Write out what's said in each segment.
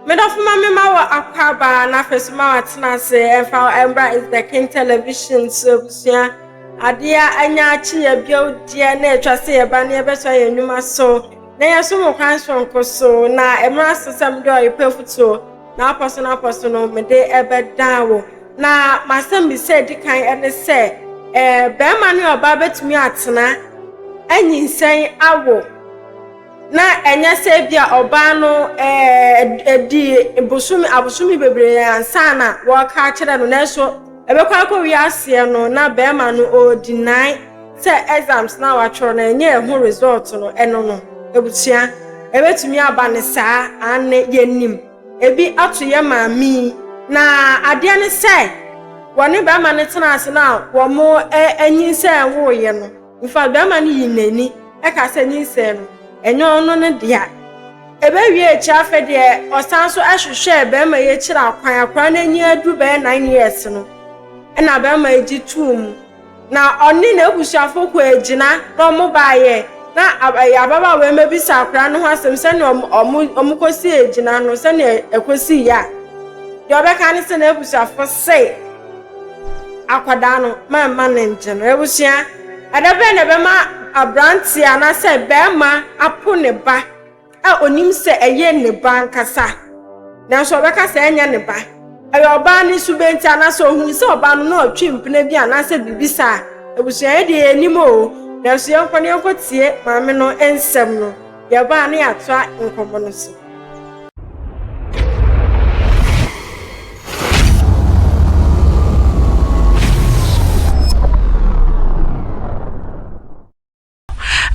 Me dɔfo ma me ma wɔ akwaaba na afei so ma watena ase ɛmfa ɛmbra is the king television so abusua adeɛ a anya akyi yɛ bio deɛ na atwa sɛ yɛba na yɛbɛsɔ yɛn nnwuma so na yɛso mo kwan soronko so na ɛmra so sɛ mede ɔyepɛ afutuo na apɔ so no apɔ so no mede ɛbɛdan wo na masɛm bi sɛ di kan ɛne sɛ ɛɛ bɛrima ne ɔbaa bɛtumi atena anyinsɛn awo na ɛnyɛ sɛ ebia ɔbaa no dii bosome abosome bebree ansa na wɔreka akyerɛ no nanso ɛbɛkɔ akɔwie aseɛ no na bɛrima no ɔredinae sɛ exams na watwerɛ no ɛnyɛ ɛho result no ɛno no abusua ɛbɛtumi aba ne saa anne yɛnim ebi ato yɛ maame yi na adeɛ ne sɛ wɔne bɛrima no tena ase na wɔn anyinsɛn woeɛ no Mfa barima no yi n'ani ka sɛ nyinsɛn no, ɛnyɛ ɔno ne dea. Ɛbɛwie akyiri afei deɛ ɔsan so hwehwɛɛ barima yi akyiri akwan, akwadaa no anyi aduru bɛyɛ nine years no, ɛna barima yi gye too mu. Na ɔne n'abusuafoɔ kɔ agyina na wɔn baayɛ na ababaawa yi mabisa akwadaa no ho asɛm sɛnea wɔn kɔsi agyina no sɛnea ɛkɔsi yɛ a, deɛ ɔbɛka ne sɛ n'abusuafoɔ se, Akwadaa no, mɛmma no ngye no. Abusua, ɛda bɛn na ɛbɛma aberanteɛ anaasɛ bɛrima apo ne ba a onim sɛ ɛyɛ ne ba ankasa, nanso ɔbɛka sɛ ɛnyɛ ne ba? Ɛyɛ ɔbaa ne subenti anaasɛ ohun sɛ ɔbaa no na ɔtwe mpena bi anaasɛ biribi saa? Abusua, yɛn deɛ yɛnnim oo, nanso yɛnkɔ na yɛnkɔtie maame no nsɛm no. Yɛba a na yɛatoa nkɔmmɔ no so.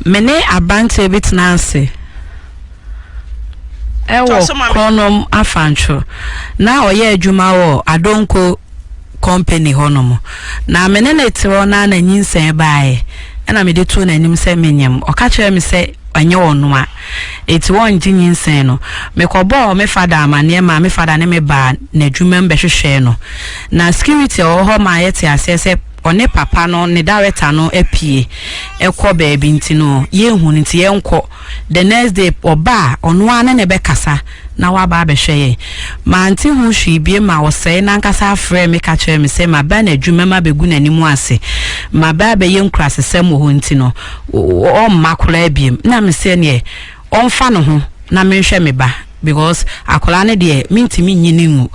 Me ne aberanteɛ bi tena ase ɛwɔ Kɔnɔm Afantwo na ɔyɛ adwuma wɔ Adonko kɔmpani hɔnom, na me ne no te hɔ no ara na nyinsɛn baeɛ, ɛnna mede too n'anim sɛ menyem. Ɔka kyerɛɛ me sɛ ɛnyɛ ɔno a enti wɔnngye nyinsɛn no. Mekɔbɔɔ me fada amanneɛ maa me fada ne me baa n'adwumam bɛhwehwɛɛ no, na security a ɔwɔ hɔ maa yɛtee aseɛ sɛ ɔne papa no, ne dawɛta no, apue kɔ baabi nti no, yɛnhu no nti yɛnkɔ. The next day ɔba a ɔno ara ne no bɛkasa na waba abɛhwɛ yɛn. Mante ho hwee bio ma ɔsɛe no ankasa frɛɛ me ka kyerɛɛ me sɛ maba anadwo mɛma bɛgu n'anim ase. Maba abɛyɛ nkurasesɛm wɔ hɔ nti no, ɔmma koraa biom. Na mese ɛneɛ ɔmfa ne ho na menhwɛ me ba. because akwadaa no deɛ mentumi nyi no ngu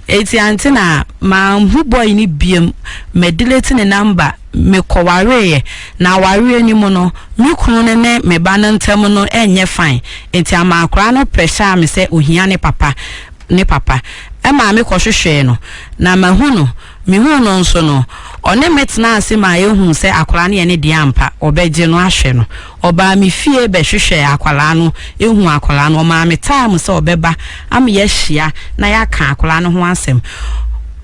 eti ante na manhu boy no biam madelete ne number mekɔwareeɛ na awareɛ no mu no me kunu no ne me ba no ntam no ɛnyɛ fine enti ama akwadaa no pressure me sɛ ohia ne papa ne papa ɛma mekɔhwehwɛɛ no na mahu no Mehuu no nso no, ɔne me tenaa ase maa yɛhuu sɛ akwadaa no yɛ ne deɛ ampa, ɔbɛgye no ahwɛ no. Ɔbaa me fie bɛhwehwɛɛ akwadaa no, huu akwadaa no. Ɔmaa me time sɛ ɔbɛba ama yɛahyia na yɛaka akwadaa no ho asɛm.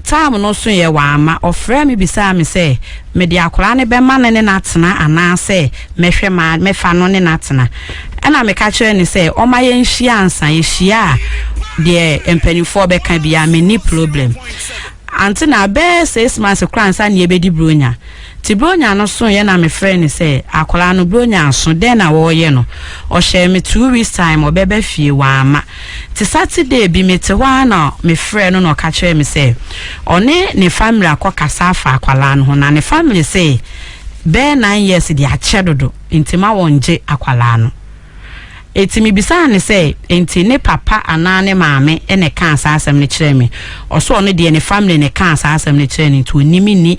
Time no soeɛ, wamma. Ɔfrɛɛ me bisaa me sɛ, mede akwadaa no bɛma no ne no atena anaasɛ mɛhwɛ ma mɛfa no ne no atena. Ɛnna meka kyerɛɛ no sɛ ɔmma yɛnhyia ansa, yɛhyia a, deɛ mpanimfoɔ bɛka biara, menni problem. Antse na bɛyɛ six months koraa ansa na yebedi Buronya. Ntsi Buronya no sooe na mefrɛɛ no sɛ, Akwadaa no, Buronya aso, dɛn na wɔreyɛ no? Ɔhyɛɛ me two weeks time ɔbɛba fie, ɔamma. Ntsi Saturday bi, metse hɔ ara na mefrɛɛ no na ɔka kyerɛɛ me sɛ ɔne ne family akɔkasa afa akwadaa no ho na ne family se bɛyɛ nine years de akyɛ dodo ntsi ma wɔngye akwadaa no. Enti mibisaa no sɛ, Enti ne papa anaa ne maame na ɛkaa saa asɛm no kyerɛɛ me? Ɔse ɔno deɛ ne family na ɛkaa saa asɛm no kyerɛɛ no nti ɔnim me nni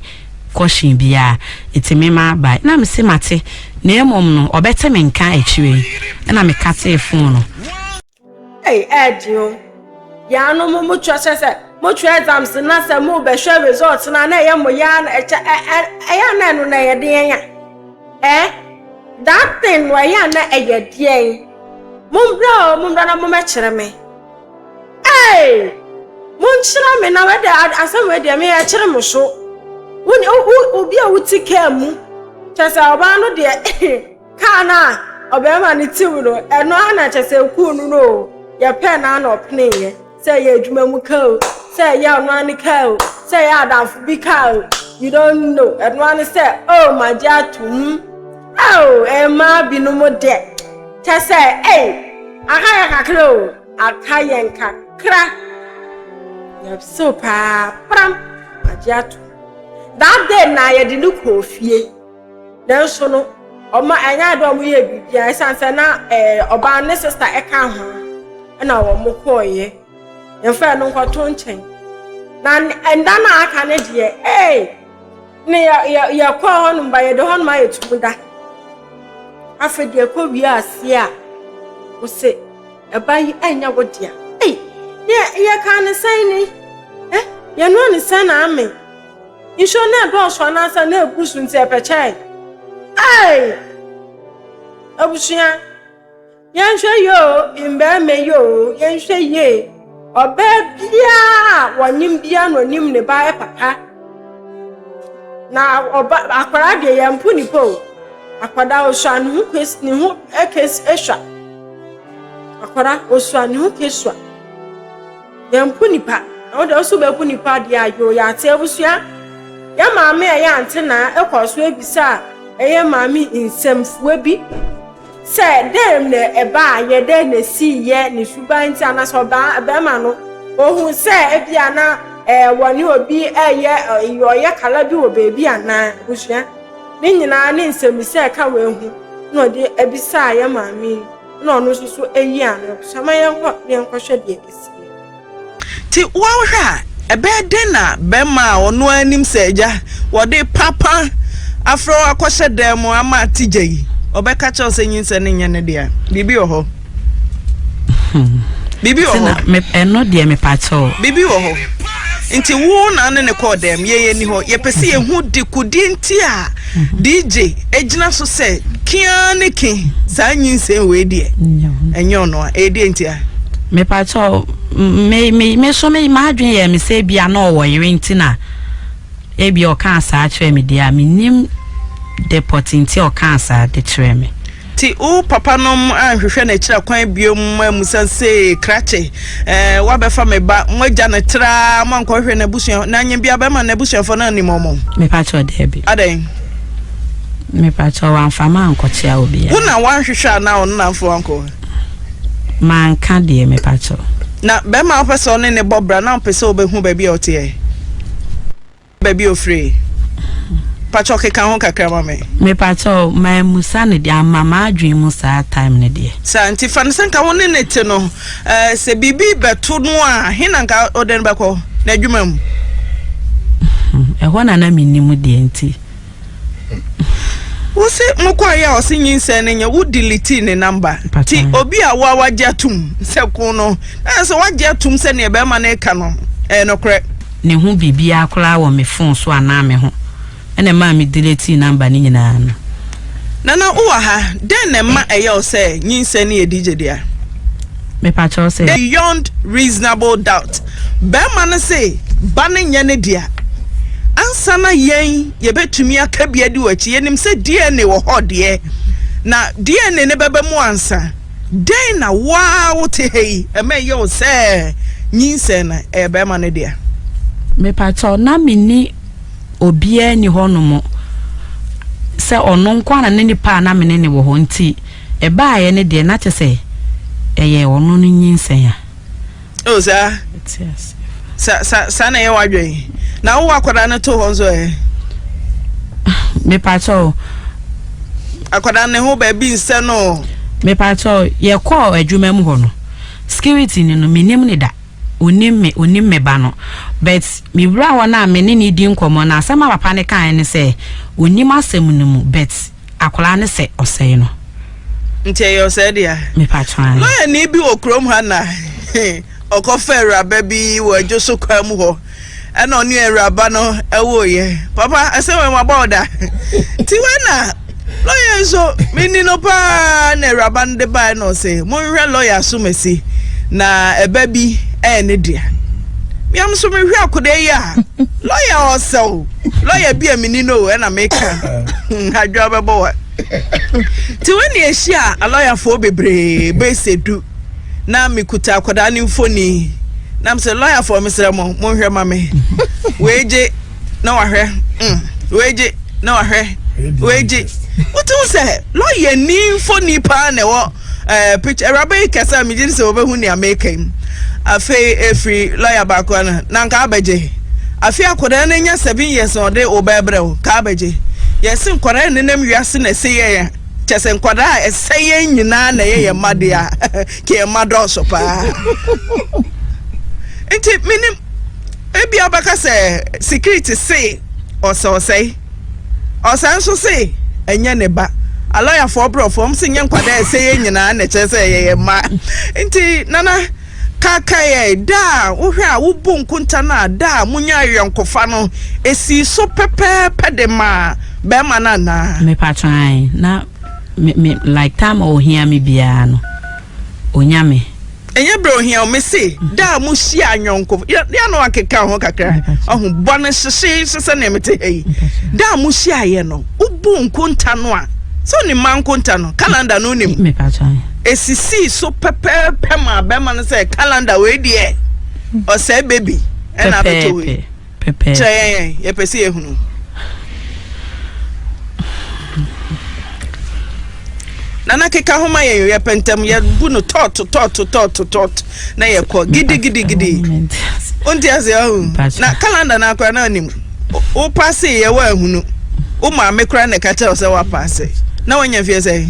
caution biara. Enti me ma bae. Na mese mate, na mmom no ɔbɛte me nka akyire yi. Ɛna mekatee phone no. Ei ɛɛden o. Yaanom mo kyerɛ kyɛ sɛ mo kyerɛ exams na sɛ mo bɛhwɛ results na na ɛyɛ mo yaa na ɛkyɛ ɛ ɛ ɛyɛ na ɛno na ɛyɛ deɛn a ɛ that thing no ɛyɛ na ɛyɛ deɛn mo mbra o mo mbra na mo mɛkyerɛ me ee mo nkyerɛ me na wɛdɛ asɛm wɛ deɛ me yɛ kyerɛ mo so wo obi a wote kaa mu kyɛ sɛ ɔbaa no deɛ Kaa no a ɔbarima no tiw no, ɛno ara na kyɛ sɛ ekuu no no o, yɛpɛɛ no ara na ɔpeneeɛ. Sɛ ɛyɛ adwuma mu kaa o, sɛ ɛyɛ ɔno ara ne kaa o, sɛ ɛyɛ adamfo bi kaa o, you don't know. Ɛno ara ne sɛ, oh, magye atom. Oh, mmaa binom deɛ, kyɛ sɛ, ei, aka yɛn kakra o, aka yɛn kakra. Yɛsew paa, pram, magye atom. That day na yɛde no kɔɔ fie. Nanso no, ɔma ɛnyɛ ade a wɔyɛɛ biribiara ɛsiane sɛ na ɛɛ ɔbaa ne sista ɛka ho ɛna wɔn kɔɔeɛ. Yɛmfrɛ no nkɔto nkyɛn. Na ɛnda no a aka no deɛ ee ne yɛ yɛ yɛkɔɔ hɔnom ba yɛde hɔnom ayɛ tum da. Afei deɛ ɛkɔ wie aseɛ a wɔse ɛba yi ɛnyɛ wo dea. Ei yɛ yɛkaa ne sɛn ni? Ɛ yɛnoa ne sɛn na ame? Nsuo no ɛdɔɔso anaasɛ na ɛbu so nti ɛpɛkyɛe. Ei! Abusua, yɛnhwɛ yie o, mmarima yi o, yɛnhwɛ yie. Ɔbaa biara a wɔnim biara na ɔnim ne ba papa. Na ɔba akwadaa deɛ yɛn mpo nipa o. Akwadaa osua ne ho kes ne ho kes esua. Akwadaa osua ne ho kesua. Yɛmpo nnipa, na wo de wo nso wobɛpo nnipa deɛ a, yoo, yɛate abusua. Yɛn maame a ɛyɛ Antenaa kɔɔ so bisaa ɛyɛ maame nsɛmfua bi sɛ dɛn na ɛbaeɛ, dɛn na ɛsiiɛ, ne suban nti anaasɛ ɔbaa barima no ɔhu sɛ ebia na eh, wɔne obi ɛyɛ ɔyɛ kala bi wɔ baabi anaa abusua. Ne nyinaa ne nsɛmmisa ɛka wei ho na ɔde bisaa yɛn maame yi. na ɔno nso so ayi ano so ama yɛnkɔ na yɛnkɔhwɛ deɛ ɛsi yɛ. Nti wohwɛ a, ɛbɛyɛ dɛn na barima a ɔno ara nim sɛ agya wɔde papa afrɛ wo akɔhyɛ dan mu ama ate gya yi, ɔbɛka kyerɛ wo sɛ nyinsɛn no nyɛ ne dea? Biribi wɔ hɔ. Hmm. Biribi wɔ hɔ. Ɛno deɛ mepakyɛw. Biribi wɔ hɔ. Nti wo na ne ne kɔɔ dɛm, yɛn ani hɔ. Yɛpɛ sɛ yɛhu dekudie nti a DJ egyina so sɛ kiaa ne ke saa nyinsɛn wei deɛ ɛnyɛ ɔno a ɛdeɛ nti a. mepatɔ me me me so me m'adwene yɛ me sɛ ebia na ɔwɔ yere nti na ebia ɔkaa saa kyerɛ me deɛ a menim depɔte nti ɔkaa saa de kyerɛ me. Nti wo papa nom anhwehwɛ n'akyira kwan bio mma amusa se, Krakye, eh, woabɛfa me ba, moagya no traa, moankɔhwehwɛ n'abusua, na nyɛ biara bɛma n'abusuafoɔ no annim wɔn? Mepakyɛw, Daabi. Adɛn? Mepakyɛw, Wamfa me ankɔkyea obiara. Wo na woanhwehwɛ anaa ɔno na amfa wo ankɔ hɔ? Manka deɛ, mepakyɛw. Na barima a wopɛ sɛ wo ne no bɔ bra no a wopɛ sɛ wobɛhu baabi a ɔte ɛ? baabi a ofiri pakyɛw keka ho kakra ma me. mepakyɛw mammusa no deɛ amma m'adwene mu saa time no deɛ. saa nti fa no sɛ nka wo ne ne te no eh, sɛ biribi bɛto no a he na nka wode no bɛkɔ n'adwuma mu hmm, ɛhɔ na na mennim deɛ nti Wose mokɔe a ɔse nyinsɛn no nyɛ wo delete ne number ti obi a wa wagye atum sɛ ko no na sɛ wagye atum sɛ ne ɛbɛrima no ɛka no ɛyɛ nokorɛ. Ne ho biribiara koraa wɔ me phone so anaa me ho ɛna ɛmaa me delete number no nyinaa no. Nana wowɔ ha dɛn na ɛma ɛyɛ wo sɛ nyinsɛn no yɛ DJ dea? Mepakyɛw sɛ. Beyond reasonable doubt. Barima no se, Ba no nyɛ ne dea. Ansa na yɛn yɛbɛtumi aka bi adi w'akyi, yɛnim sɛ DNA wɔ hɔ deɛ, na DNA no bɛba mu ansa. Dɛn na wo ara wote ha yi ɛma ɛyɛ wo sɛ nyinsɛn no ɛyɛ barima no dea? Mepakyɛw, na minni obiara nni hɔnom sɛ ɔno nko ara na ne nipa a na me ne no wɔ hɔ nti ɛbaeɛ no deɛ, na kyerɛ sɛ ɛyɛ ɔno no nyinsɛn a. Oh, saa. Sa sa saa na ɛyɛ w'adwene. Na wowɔ akwadaa no to hɔ nso ɛ. Mepakyɛ o. Akwadaa ne ho baabi nsɛ no. Mepakyɛ o, yɛkɔɔ adwuma mu hɔ no. Security ni no, menim ne da. Onim me, onim me ba no. But mewura hɔ no a me ne ne di nkɔmmɔ no, asɛm a papa no kae ne sɛ, onim asɛm no mu, but Akwadaa no sɛ ɔsɛe no. Nti ɛyɛ ɔsɛe dea. Mepatwaa. Lɔyani bi wɔ kurom ha na ɔkɔfa awuraba bi wɔ adwo so kwan mu hɔ ɛna ɔne awuraba no ɛwooyɛ. Papa ɛsɛ wɔn wabɔ ɔda. Ti wei na lɔya nso meni no paa na awuraba no de bae na ɔsɛ monhwɛ lɔya so masi na ɛba bi ɛyɛ ne dea. Miam so mehwɛ akwadaa yi a lɔya ɔsɛw. lɔya bi a menni no o ɛna meka adwoa bɛbɔ wa nti wo ne ahyia alɔyafoɔ bebree bɛsɛ du na mekuta akwadaa ne mfoni nam sɛ lɔyafoɔ mesrɛ mo monhwɛ ma me weegye na wahwɛ mm, weegye na wahwɛ weegye wotum sɛ lɔya ni mfoni paa na ɛwɔ Ɛɛ, pikya, awuraba yi kasa a megye di sɛ wɔbɛhu nea meka yi. Afei ɛfiri lɔya baako ano, na nka abɛgye. Afei akwadaa no anya seven years na ɔde wo bɛɛ brɛ wo, nka abɛgye. Yɛse nkwadaa a ɛnenam wiase na ɛsɛ yɛn a, kyɛ sɛ nkwadaa a ɛsɛ yɛn nyinaa na ɛyɛ yɛn mma deɛ a, ka yɛn mma dɔɔso paa. Nti menim, ebi abɛka sɛ security se ɔsɛ ɔsɛe. Ɔsan nso se ɛnyɛ ne ba. Alɔyafoɔ brɔfoɔ wɔn se nyɛ nkwadaa ɛsɛ yɛn nyinaa na ɛkyerɛ sɛ yɛyɛ mma. Nti Nana kaakae yɛn da a wohwɛ a wobu nkonta no a da a monya ayɔnkofa no ɛsii so pɛpɛɛpɛ de maa bɛrima no anaa? Mepatwɔ ae na me me like time a ɔhia me biara no. Onyame. Ɛnyɛ berɛ ohia o, mese da a mohyia anyɔnko, yɛ no akeka ho kakra, ɔho bɔ no hyehyeehye sɛdeɛ mete ha yi. Da a mohyiaeɛ no, wobu nkonta no a, sɛ onim ma nkonta no, calendar no onim. Ɛsisii so pɛpɛɛpɛ ma bɛma no sɛ calendar wei deɛ, ɔsɛe baby ɛna abɛtɔ wei. pɛpɛɛpɛ. Kyerɛ yɛn, yɛpɛ sɛ yɛhunu. Nana keka ho ma yɛn, yɛpɛ ntɛm, yɛbu no tɔt, tɔt, tɔt, tɔt, na yɛkɔ gidi, gidi, gidi. Wonti ase ahu. Na kalanda no akora na anim. Wopase yɛ wɔ ahunu. Wo maame kora na ɛka kyerɛ sɛ wapase. Na wanya fie sɛ?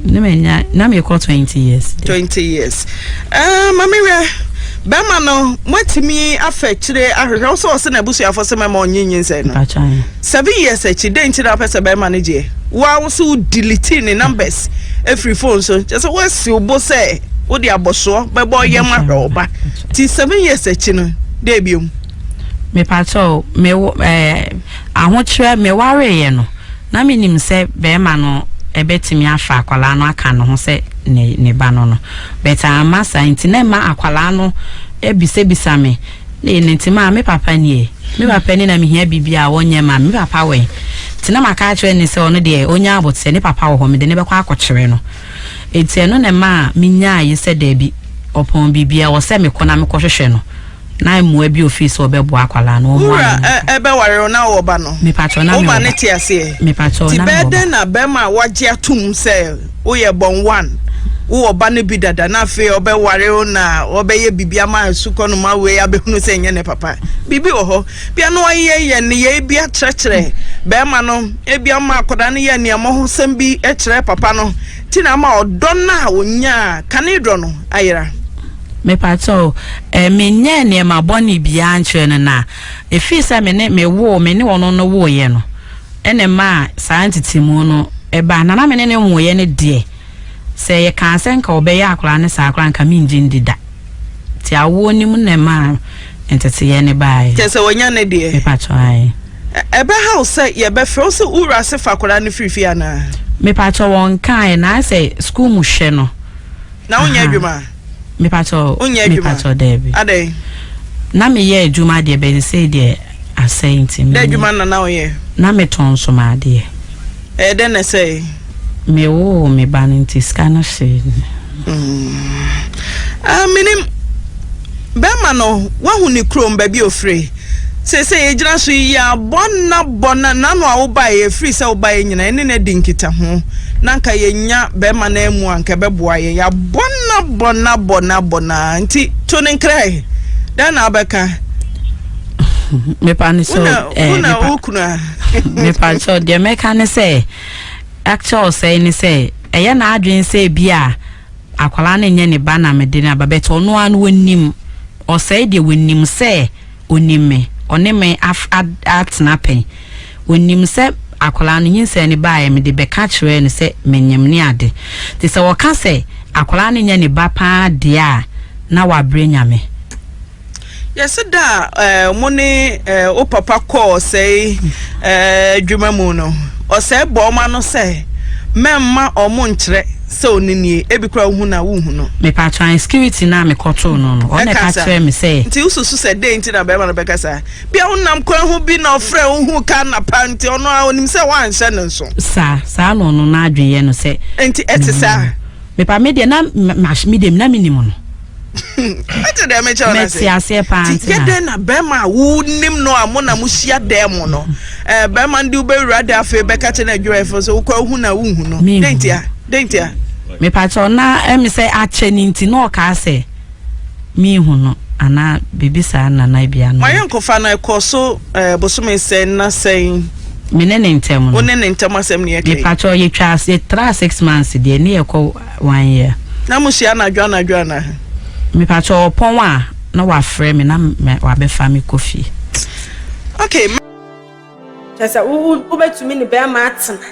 Na mekɔ 20 years. 20 years. Uh, ah, mame wɛ. Bɛma no moatumi afa akyire ahwehwɛ wo sɛ ɔse n'abusuafoɔ sɛ mɛma ɔnye nyinsɛn no seven years akyi dɛn nti na wopɛ sɛ bɛma no gyeɛ woa wo so wo delete ne numbers ɛfiri phone so kyɛ sɛ woasi wo bo sɛ wode abɔsoɔ bɛbɔ yɛm ahwɛ wo ba nti seven years akyi no dɛ biom mepatɔ mewo ɛɛ Ahokyerɛ, Mewareeɛ no, na menim sɛ barima no bɛtumi afa akwadaa no aka ne ho sɛ ne ne ba no no, but amma saa nti na ɛma akwadaa no bisabisa me ne ne nti ma me papa nie, me papa ni na mehia biribi a ɔnyɛ ma me papa wɛn nti na maka akyerɛ ne sɛ ɔno deɛ ɔnya aboteɛ ne papa wɔ hɔ mede ne bɛkɔ akɔkyerɛ no nti ɛno na ɛma menyaa yi sɛ daabi ɔpɔn biribi a ɛwɔ sɛ mekɔ na mekɔhwehwɛ no. Na mmoa bi ofii sɛ ɔbɛboa akwadaa no. Wɔn wura ɛbɛware wo na ɔwɔ ba no. Mepatwɔ na mewɔ ba. Wo ba ne te aseɛ. Mepatwɔ na mewɔ ba. Ti bɛɛ dɛn na bɛrima a wagye atum sɛ woyɛ bɔn one, wowɔ ba no bi dada na afei ɔbɛware wo na ɔbɛyɛ biribi ama asukɔ no ma wei abɛhunu sɛ nyɛ ne papa. Biribi wɔ hɔ. Bia na wayɛ yɛ nneyɛe bi akyerɛkyerɛ bɛrima no. Ebia ɔma akwadaa no yɛ aniammɔhosɛm bi kyerɛɛ papa no. Ti na ama ɔdɔ no a ɔnyaa kane dɔ no ayera. Mepakyɛw, eh, menyɛɛ nneɛma bɔne biara nkyerɛɛ no, na efii sɛ me ne, mewoo, me ne ɔno no wooeɛ no, ɛna ɛmaa saa ntetemu no baa. Na na me ne no nwooeɛ no deɛ, sɛ yɛkaa sɛ nka ɔbɛyɛ akwadaa no saa koraa a, nka mengye ndi da. Nti awoɔ no mu na ɛmaa nteteeɛ no baae. Kyerɛ sɛ wanya ne deɛ. Mepakyɛw, ae. Ɛ, ɛbɛhaw sɛ yɛbɛfrɛ wo sɛ wo wura se fa akwadaa no firi fie anaa? Mepakyɛw, wɔnkaeɛ, na ayɛ sɛ sukuu mu hwɛ no. na wonyɛ adwuma mepatɔ mepatɔ daabi adɛn na meyɛ adwuma deɛ bɛn sei deɛ asɛe nti dɛ adwuma na na woyɛ na metɔn nsoma adeɛ ɛyɛ dɛn na ɛsɛe mewoo me ba no nti sika no hyee mm. ah, menim bɛma no wahu ne kurom, baabi a ɔfire. Seesei yɛgyina so yi, yɛabɔ nna bɔ na nano a wobaeɛ, ɛfiri sɛ wobaeɛ nyina yɛne no adi nkitaho, na anka yɛnya bɛma no amu a, anka ɛbɛboa yɛn. Yɛabɔ nna bɔ na bɔ na bɔ na nti to no nkrae. Dɛn na wobɛka? mepa no sɛ wona wo kunu a mepa sɛ deɛ mɛka ne sɛ actual sɛe ne sɛ ɛyɛ n'adwene sɛ bi a Akwadaa no nyɛ ne ba na mede no aba but ɔno ara no ɔnim, ɔsɛe deɛ ɔnim sɛ ɔnim me, ɔne me af ad atena pɛn, ɔnim sɛ akwadaa no nyinsɛn no baeɛ mede bɛka kyerɛɛ no sɛ menyem ne ade. Nti sɛ ɔka sɛ akwadaa no nyɛ ne ba pa ara deɛ a na wabrɛ Nyame. Yɛse da a eh, mo ne eh, wo papa kɔɔ ɔsɛe eh, adwuma mu no, ɔsɛe bɔ ɔma no sɛ mɛmma ɔmo nkyerɛ sɛ ɔne nie, ebi kora wohu na wohu no. Mepatɔ an security na mekɔtoo no no, ɔna ɛka kyerɛ me sɛ. Nti wosusu sɛ dɛn nti na bɛrima no bɛka saa? Bia wonam kwan ho bi na ɔfrɛ wo hu ka napa nti ɔno a onim sɛ woanhyɛ no nso. Saa, saa na ɔno n'adwen yɛ no sɛ. Nti ɛte saa. Mepa me deɛ na medeɛ na menim no. ɛte dɛ mekyɛ wo nase aseɛ paa nti yɛ dɛn na bɛrima a wonim no a mo na mohyia dɛn mu no eh, bɛrima no de wobɛwura de afei bɛka kyɛ no adwumayɛfo so wokɔ wohu na wonhu no dɛn ntia dɛn ntia mepakyɛw na ɛme eh, sɛ akyɛ no nti na ɔkaa sɛ mehu no anaa biribi saa nana bia no mayɛ nkɔfa no ɛkɔ so eh, bosome sɛn na sɛn me ne ne ntɛm no wo ne ne ntɛm asɛm ne yɛkɛ mepakyɛw yɛtwa yɛtra six months deɛ ne yɛkɔ wanyɛ. Na mo hyia anadwo anadwo anaa? Mepakyɛ ɔpɔn a na wafrɛ me na wabɛfa me kɔ fie. Okay. Kyɛ sɛ wobɛtumi ne bɛrima atena.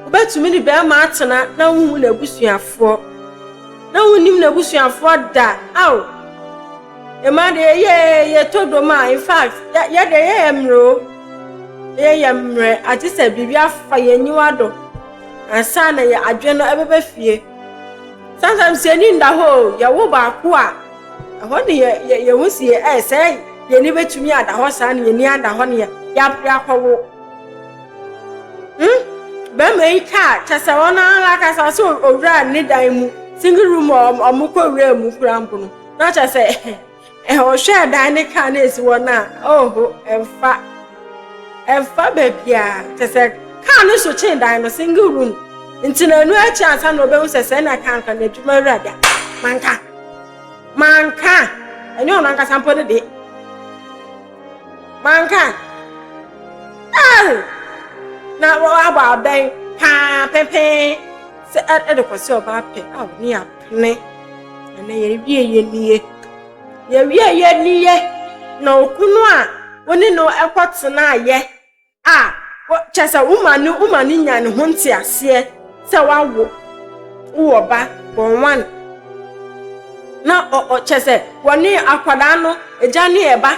Wobɛtumi ne bɛrima atena na wonhu n'abusuafoɔ. Na wonnim n'abusuafoɔ da. Ao! Ɛma deɛ yɛɛ yɛtɔ dom a, in fact, yɛdeɛ yɛyɛ mmerɛ o. Yɛyɛ mmerɛ, agye sɛ biribi afa yɛn aniwa do. Ansa na yɛ adwene no ɛbɛbɛ fie. Sometimes yɛ ni nda hɔ o, yɛ wo baako a, ɛhɔ ne yɛ yɛ ho si yɛ ɛɛ sɛ yɛ ni bɛtumi ada hɔ saa ne yɛ ni ada hɔ ne yɛ yɛ akɔ wo. Hmm, bɛrima yi kaa kyɛ sɛ wɔn ara kasa sɛ owura ne dan mu, single room a wɔn kɔ wura mu kura mpo no, na kyɛ sɛ. Ɔhwɛɛ dan ne kaa no a esi hɔ no a, oho, ɛmfa. Ɛmfa baabiara. Kyerɛ sɛ kaa no so kyɛn dan no, single room. Nti na ɛno akyi ansa na obehu sɛ sɛ na kaa nkwa na adwuma wura da. Manka. Manka. Ɛnyɛ ɔno ankasa mpo ne de. Manka. Na abɔ abɛn paa pɛpɛn sɛ ɛde kɔsi ɔbaa pɛ a ne yɛ Me. Ɛnɛ yɛawie yɛ nie. Yɛawie yɛ nie. Na okunu a wo ne no ɛkɔ tenaayɛ a kyɛ sɛ woma ne woma ne nya ne ho nteaseɛ sɛ wawo wowɔ ba bɔnwan na ɔ kyɛ sɛ wɔne akwadaa no agya ne ɛba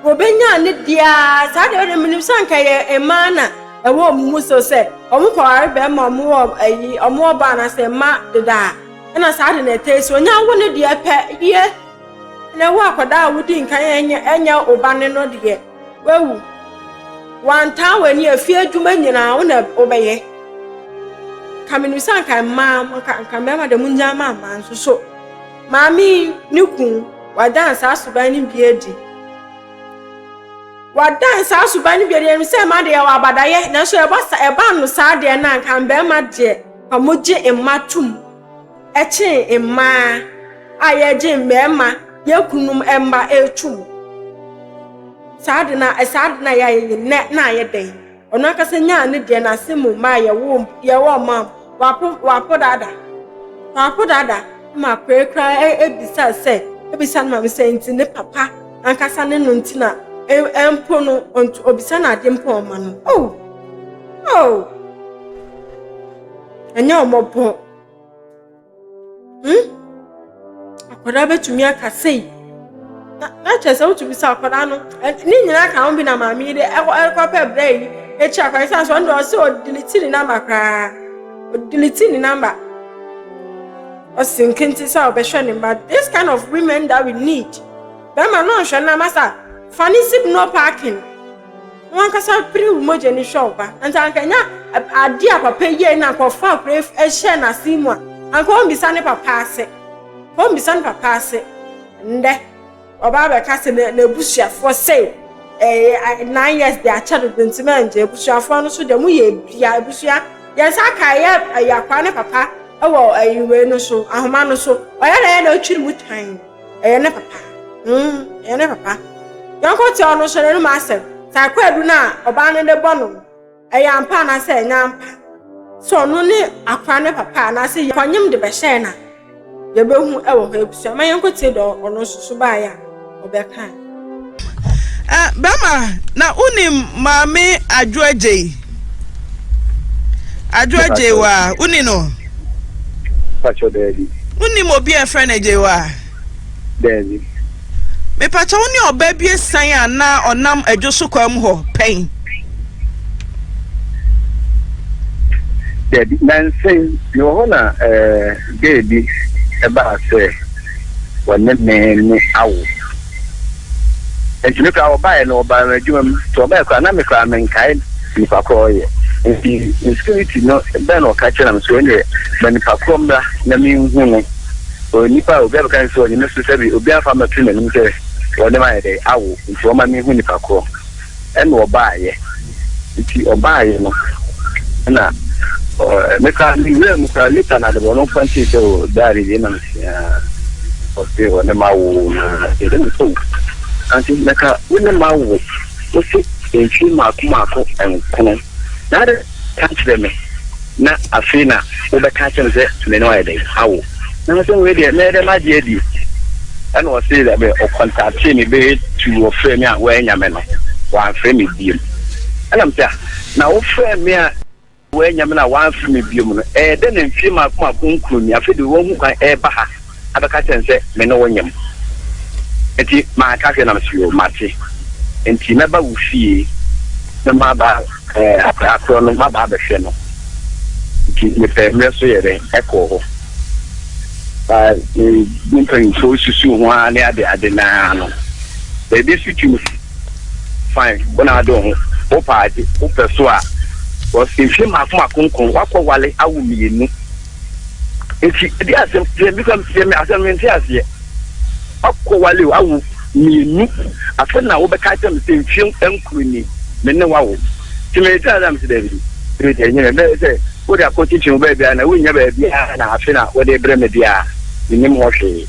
Wɔbenyaa ne dea ara. Saa deɛ ɔde menim sɛ anka yɛ mmaa na ɛwɔ wɔn mu so sɛ wɔn kɔware bɛrima wɔn wɔ ayi wɔn wɔ ba anaasɛ mma deda a ɛna saa de na ɛtɛ si wɔnya wo ne deɛ pɛ yie na ɛwɔ akwadaa a wodi nkan ɛnyɛ ɛnyɛ ɔba ne no deɛ wawu wantaa wɔ ani afie adwuma nyinaa wo na wobɛyɛ ka menim sɛ anka mmaa nka mmarima deɛ mo nyaa maa mmaa nso so. Maame yi ne kun, wɔadan saa suban no bi adi. Wɔadan saa suban no bi adi, ɛnim sɛ mma deɛ yɛwɔ abadayɛ, nanso ɛba sa ɛba no saa deɛ na nka mmarima deɛ nka wɔgye mma tom kyɛn mmaa a yɛgye mmarima, yɛn kununom mma tom. Saa de na saa de na yɛayɛ nnɛ na ayɛ dɛn? Ɔno ankasa nyaa ne deɛ n'ase mu maa yɛwoo mpo deɛ wɔn maa mu wapo wapo dada wapo dada ma akɔɛ koraa ebisa sɛ ebisa ne maame sɛ nti ne papa ankasa ne no nti na ɛmpo no ɔntu obisa no adeɛ mpo ɔma no oh oh ɛnyɛ ɔmɔbɔn. hmm? akwadaa bɛtumi aka sei na kyerɛ sɛ wotumi sɛ akwadaa no ne nyinaa ka ho bi na maame yi de ɛkɔpɛ brɛ yi ɛkyerɛ akwadaa yi sɛ asɔ ɔno ɔsɛ ɔdelete ne namba koraa ɔdelete ne namba ɔsi nkente sɛ ɔbɛhwɛ ne mma this kind of women that we need bɛrima no nhwɛ nam asa fa ne sip no parking Wo ankasa pere wo mogya ni hwɛ wo ba. Anka anka nya ade a papa yie na anka ɔfa akora hyɛ n'ase mu a, anka ɔmbisa ne papa ase. Ɔmbisa ne papa ase. Ndɛ, ɔba abɛka sɛ n'abusuafoɔ sei eh, nine years de akyɛ dodo nti mangye. Abusuafoɔ no so deɛ mo yɛ bia, abusua yɛn nsa aka ɛyɛ akwaa ne papa wɔ ɛyi wei no so, ahoma no so. Ɔyɛ na yɛ na ɔtwiri mu tan. Ɛyɛ ne papa. Mm, ɛyɛ ne papa. Yɔnko tew no hyɛ n'anom asɛm. Saa kwaadu no a ɔbaa no de bɔ no no, ɛyɛ ampa anaasɛ ɛnyɛ ampa? Sɛ ɔno ne akora ne papa anaasɛ yɛ kɔnyem de bɛhyɛɛ no a, yɛbɛhu wɔ hɔ abusua. Ma yɛnkɔtie deɛ ɔno nso so baeɛ a ɔbɛkae. Eh, bɛma na wonim maame adwo agyei adwo agyei wa woni no pakyɛ daabi wonim obi a ɛfrɛ no agyei wa daabi mepakyɛ wo ne ɔbaa bi asian a na ɔnam adwo so kwa mu hɔ pɛn daabi nansen mewɔ hɔ na eh, gay bi ɛbaa sɛ wɔne me no awo. Nti me koraa wɔbaeɛ no wɔbaa me adwuma mu nti wɔbaeɛ koraa na me koraa menkae nipa korɔ wɔyɛ nti insecurity no bɛn na ɔka kyerɛ na mesɛ ɛneɛ ma nipa korɔ mmra na menhu no ɔyɛ nipa a obi abɛka ne sɛ ɔnyɛ me so sɛbi obi amfa mɛto n'anim sɛ wɔne ma yɛ dɛ awo nti wɔma menhu nipa korɔ Ɛna ɔbaeɛ, nti ɔbaeɛ no na me koraa me wura mu koraa later na adebɔ no mfa nkyɛn sɛ o daare yɛ na mesia ɔse ɔne ma wo na ɛdɛ me sɛ o ante mɛka wo ne ma wo ɔse mfie maako maako nkono na adɛn na woanka ankyerɛ me, na afei na wobɛka akyerɛ me sɛ me ne wo ayɛ dɛn? Awo, nanso wei deɛ, mɛyɛ dɛn magye adie? Ɛnna ɔsee dɛ, bɛ, ɔkɔntaktee me bɛyɛ tu, ɔfrɛɛ me a, woannya me no, wamfrɛ me biom. Ɛnna mese, Ah, na wofrɛɛ me a woannya me no a wamfrɛ me biom no, ɛyɛ dɛn na mfie mmaako mmaako nkuroni, afei deɛ woahu kwan reba ha abɛka kyerɛ no sɛ me ne wo nyem. Enti manka hwee na mese yoo, mate. Enti mɛba wo fie na maba eh, akwadaa korɔ no, maba abɛhwɛ no. Enti mepɛ mmerɛ so yɛ dɛ ɛkɔɔ hɔ. Ba eh, ne mpanyinfoɔ susu ho ara ne ade ade naa no. Baabi so ti no, fine, wo na ade wo ho. Wopɛ ade, wopɛ so a, because mfie mmaako mmaako nko, wakɔ wale awo mmienu. nti ɛdi asɛm deɛ bi kam deɛ mi asɛm mi nti aseɛ wakɔ wale o awo mmienu afɛ na wo bɛka kyɛm sɛ nfie nkuru ni me ne wawo ti mi ti asɛm si dɛbi ebi deɛ nyɛ bɛyɛ sɛ wo de akɔ kyinkyin bɛyɛ bia na wo nya bɛyɛ bia na afɛ na wo de brɛ mi bia mi nim hɔ hwee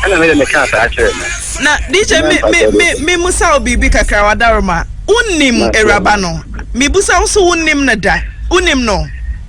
ɛna mi de mi ka saa kyerɛ mi. na dj mi mi mi mi musa wo biribi kakra wadaroma wo nim awuraba no mi busa wo so wo nim no da wo nim no.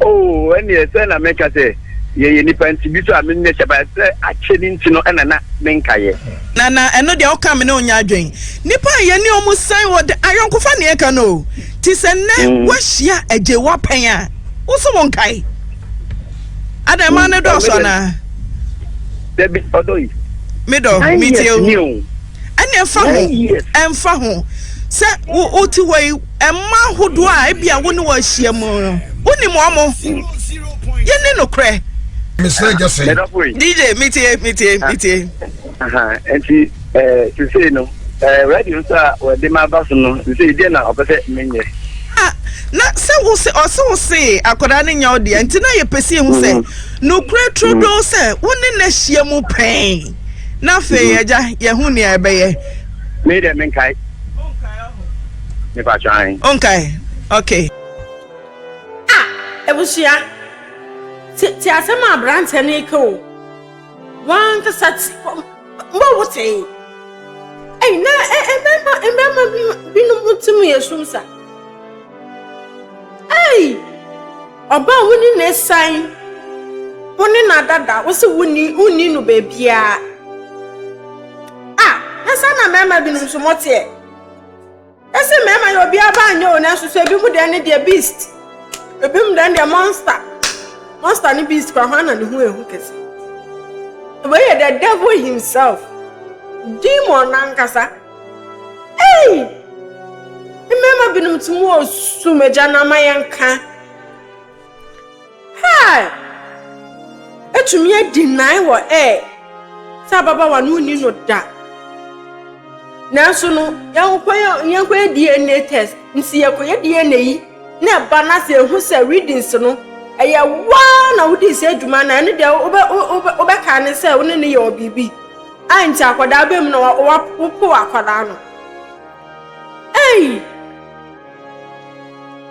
Oh, ɛnneɛ sɛ na meka sɛ yɛyɛ nnipa nti bi so a menyɛ hyɛ ba sɛ akyɛ ne nti no ɛna na menka yɛ. Na na ɛno deɛ woka me ne wo nyɛ adwen. Nnipa a yɛne ɔmo san wɔ da ayɔnkofa ne ɛka no o. Ti sɛ nnɛ mm. woahyia agye woapɛn a wo so wo nkae. Adan ma ne dɔɔso anaa? Dabi ɔdɔ yi. Me dɔ, me tie o. ɛne ɛmfa ho ɛmfa ho sɛ wote hɔ yi ɛma ahodoɔ a ebi a wo ne wɔ ahyia mu no wonim wɔn mo yɛne nokorɛ mesrɛ gya sɛ dj metie metie metie nti sesei no radio nso a wɔde ma aba so no sesei deɛ na ɔpɛ sɛ menyɛ na sɛ wo se ɔse wo se akwadaa no nya wo deɛ nti na yɛpɛ sɛ ɛhu sɛ mm. nokorɛ turo doo sɛ wo ne no ahyia mu pɛn na afei mm. agya yɛ ho nea ɛbɛyɛ me dɛ menkae mepa twan ɔnkae okay ah abusua te asɛm a aberanteɛ no reka o wankasa te mbɔ wo tee ɛyi na mmarima mmarima binom ti mu yɛ sum sa ɛyi Ɔba a wonni n'asiane, wo ne no adada, wo se wonni, wonni no baabiara. Ah, na saa na mmarima binom nso moteɛ. Ɛsɛ mmarima yɛ obiara ba nyɛ o, nanso so ebi mu deɛ ne deɛ beast, ebi mu deɛ ne deɛ monster. Monster ne beast kora hwan na ne ho ehu kɛse? Wei yɛ the devil himself, demon nankasa. Ei! Mmarima binom te mu osum agya no ama yɛnka. Hɛɛ! Ɛtumi adi nnan wɔ ɛɛ sɛ ababawa no nni no da. Nanso no, yɛnkɔyɛ yɛnkɔyɛ DNA test. Nti yɛkɔyɛ DNA yi na ɛba na sɛ ehu sɛ readings no ɛyɛ waa na wodii sɛ adwuma na ɛno deɛ wobɛ wobɛ wobɛka ne sɛ wo ne no yɛ ɔbiribi. Ai nti akwadaa aba mu na wa wa wopow akwadaa no ei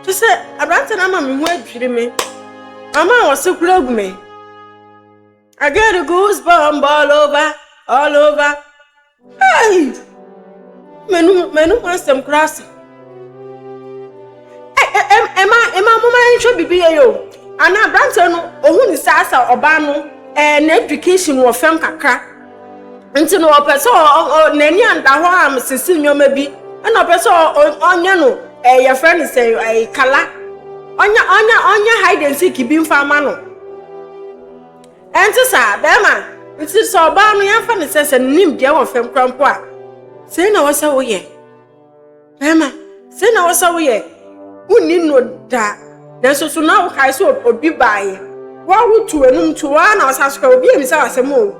kyɛ sɛ aberante no ama me ho adwiri me mama a wɔse kora agu me I get a goose bump all over all over ei m'anum m'anum asɛm koraa sa. ɛma ɛma moma nhwɛ biribi yɛ yɛ o ana aberanteɛ no ohun ne saa sa ɔbaa no ɛɛ na education wɔ fam kakra nti no ɔpɛ sɛ ɔ n'ani anda hɔ a mesisi nneɛma bi ɛna ɔpɛ sɛ ɔnyɛ no ɛɛ yɛfrɛ no sɛ ɛɛ kala ɔnyɛ ɔnyɛ ɔnyɛ hide and seek bi nfa ama no ɛnte saa bɛrima nti sɛ ɔbaa no yɛnfa ne sɛ sɛ ne nim deɛ wɔ fam kora mpo a sɛ na wɔ sɛ woyɛ. Bɛrima, sɛ na wo sɛ woyɛ wonni no da nanso so na wokae sɛ obi baeɛ woa wotu w'anum to woa na wosan so ka obi amisa w'asɛm o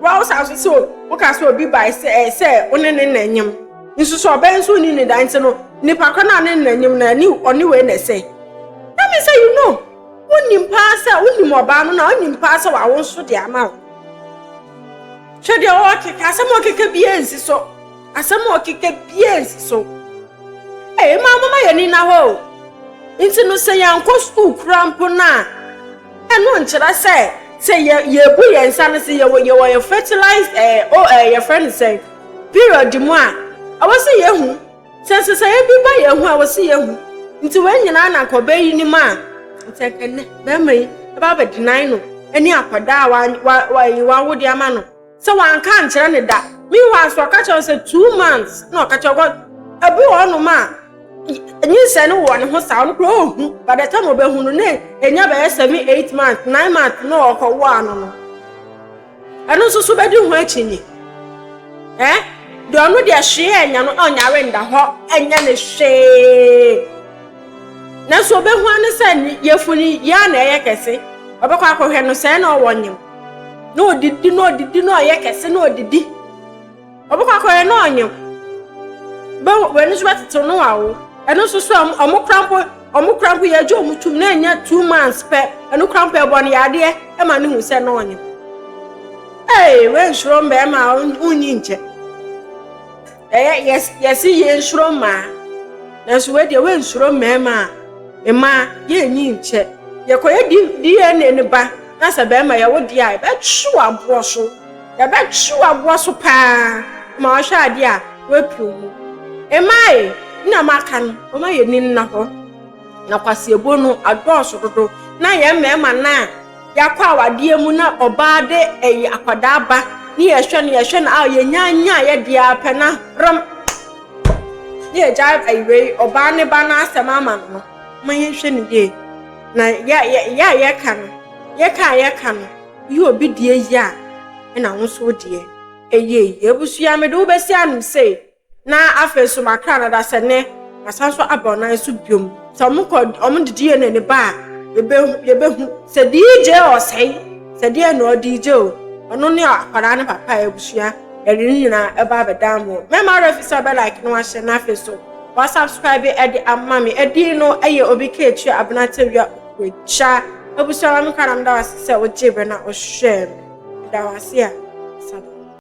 woa wosan so sɛ woka sɛ obi bae sɛ ɛyɛ sɛ wo ne ne na nyem nso sɛ ɔbɛn nso onni ne da nti no nipa kɔ no a ne na nyem na ne ɔne wei na ɛsɛ na me sɛ you know wonim paa sɛ wonim ɔbaa no na wonim paa sɛ wawo nso de ama wo hwɛ deɛ ɔkeka asɛm ɔkeka biara nsi so Asɛm a ɔkeka biara nsi so. Ee, mma momma yɛn ani nna hɔ o. Nti no, sɛ yɛankɔ sukuu koraa mpo no a, ɛno nkyerɛ sɛ sɛ yɛ yɛbu yɛn nsa no sɛ yɛwɔ yɛwɔ yɛ fertilize ɛɛ o ɛɛ yɛfrɛ no sɛn period mu a, ɛwɔ sɛ yɛhu sɛ nsesɛeɛ bi ba yɛn ho a, ɛwɔ sɛ yɛhu. Nti wei nyinaa na nka ɔbaa yi nim a, nti anka nnɛ bɛrima yi ɛbɛ abɛdenan no ne akwadaa a wa wa wa wawo de ama no. Sɛ wanka ankyerɛ no da. Meanwhile nso ɔka kyerɛ no sɛ two months na ɔka kyerɛ because ebi wɔ hɔnom a nyinsɛn no wɔ ne ho saa ɔno koraa ohu by the time obehu no na enya bɛyɛ seven eight months nine months na ɔkɔwo ano no ɛno nso so bɛdi ho akyinnye eh deɛ ɔno deɛ hwee anya no ɔnyare nda hɔ ɛnyɛ ne hwee nanso obehu ano sɛ yɛfuni yɛ na ɛyɛ kɛse ɔbɛkɔ akɔhwɛ no sɛɛ na ɔwɔ nyem na ɔdidi na ɔdidi na ɔyɛ kɛse na ɔdidi ɔbɛkɔ akɔyɛ na ɔnyew w'ani nso bɛtetew no wawo ɛno nso so ɔmo kora mpo ɔmo kora mpo yɛagye ɔmo tum na ɛnyɛ two months pɛ ɛno kora mpo ɛbɔ no yadeɛ ɛma no hu sɛ na ɔnyew ee wɛnhyerɛ mmarima a ɔnyi nkyɛ Ɛyɛ yes yes yie nsuro mmaa nanso wei deɛ wensuro mmarima a mmaa yɛnyi nkyɛ yɛkɔyɛ DNA no ba na sɛ barima yɛwo deɛ a yɛbɛtwe aboɔ so yɛbɛtwe aboɔ so paa ma wahwɛ adeɛ a wapio mu mmaa yi na maka no wɔma yɛni nna hɔ na kwaseɛbuo no adɔɔso dodo na yɛn mmarima no a Yɛakɔ awadeɛ mu na ɔbaa de ɛyi akwadaa ba ne yɛhwɛ no yɛhwɛ no a yɛnya nya yɛ deɛ ara pɛ na rem ne yɛgya ɛyi wei ɔbaa ne ba no asɛm ama no no ma yɛnhwɛ no yie na yɛ yɛ yɛ a yɛka no yɛka a yɛka no yɛ obi deɛ yie a ɛna wo nso wo deɛ ɛyɛ yie abusua mede wo bɛsi anom sei. Na afei nso makra no da sɛ ne masan nso aba ɔnan so biom. Sɛ ɔmo kɔ ɔmo de DNA no ba a yɛbɛhu yɛbɛhu sɛ DJ ɔsɛe sɛ deɛ na ɔ DJ o ɔno ne akwadaa no papa a abusua yɛde ne nyinaa ɛba abɛdan mo mɛma ɔwerɛ fi sɛ ɔbɛ like na wahyɛ na afei so wa subscribe ɛde ama me ɛdin no ɛyɛ obi keetua abena tewia okuagya abusua ma me kra na meda wase sɛ ogyee bɛ na ɔhwɛɛ me meda wase a sada.